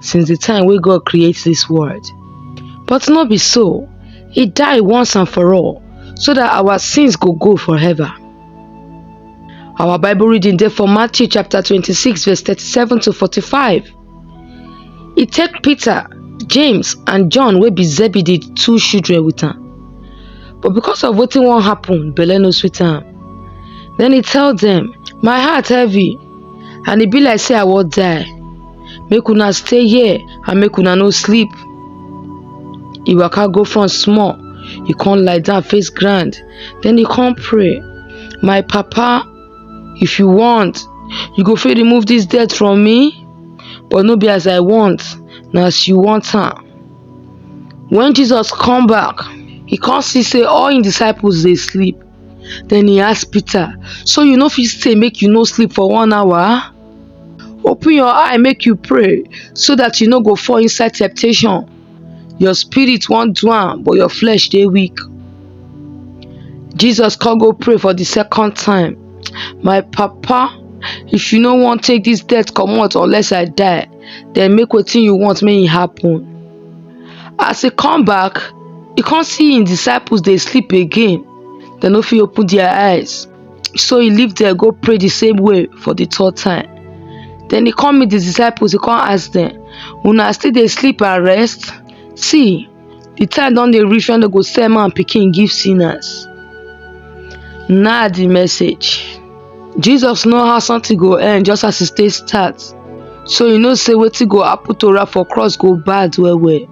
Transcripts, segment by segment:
since the time wey God create this world. But no be so, he die once and for all so that our sins go go forever. Our Bible reading there for Matthew chapter 26 verse 37 to 45. He take Peter, James and John wey be Zebedee two children with him. But because of wetin wan happen, belle no sweet am. Then he tell them, My heart heavy and e be like say I wan die. make una stay here and make una no sleep e waka go front small e come lie down face ground then e come pray my papa if you want you go fit remove this death from me but no be as i want na as you want am when jesus come back e come see say all him disciples dey sleep then e ask peter so you no fit stay make you no sleep for one hour Open your eye make you pray so that you no go fall inside temptation. Your spirit wan do am but your flesh dey weak. Jesus come go pray for the second time. My papa, if you no wan take this death comot unless I die, then make wetin you want make e happen. As he come back, he come see him disciples dey sleep again. Dem no fit open their eyes. So he leave there go pray the same way for the third time. Then he come meet the disciples, he come ask them, Una still dey sleep and rest? See, the time don dey reach when they go sell man pikin give sinners. Na the message. Jesus know how something go end just as e take start. So you know say wetin go happen to am for cross go bad well well.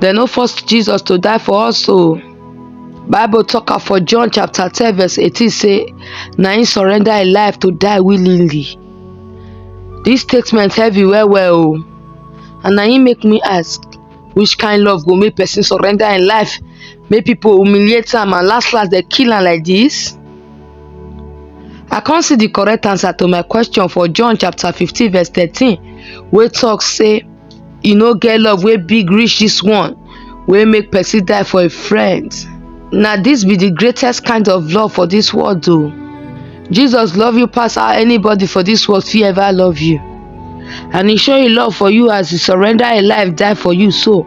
Dem no force Jesus to die for us o. Bible talk am for John chapter ten verse eighteen say na him surrender him life to die willingly. This statement heavy well well o and na him make me ask which kind love go make person surrender him life make people humiliate am and last last dem kill am like this? I come see the correct answer to my question for John chapter fifteen verse thirteen wey talk say E no get love wey big reach this one wey make person die for a friend. Na this be the greatest kind of love for this world o. Jesus love you pass how anybody for this world fit ever love you. And he show him love for you as he surrender him life die for you so.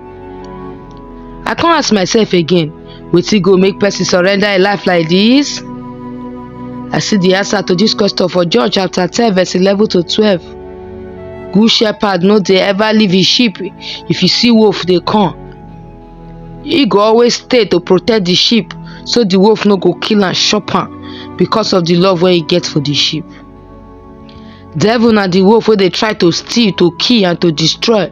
I come ask myself again, wetin go make person surrender im life like this? I see the answer to this question for John chapter 10 verse 11 to 12. Good shepherd no dey ever leave his sheep if you see wolf dey come. He go always stay to protect the sheep so the wolf no go kill am chop am because of the love wey he get for the sheep. Devil na the wolf wey dey try to steal, to kill and to destroy.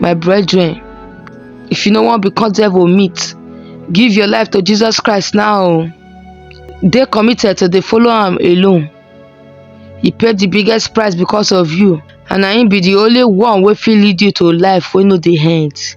my brethren if you no wan become devil meat give your life to jesus christ now o dey committed to dey follow am alone he pay the biggest price because of you and na him be the only one wey fit lead you to life wey no dey end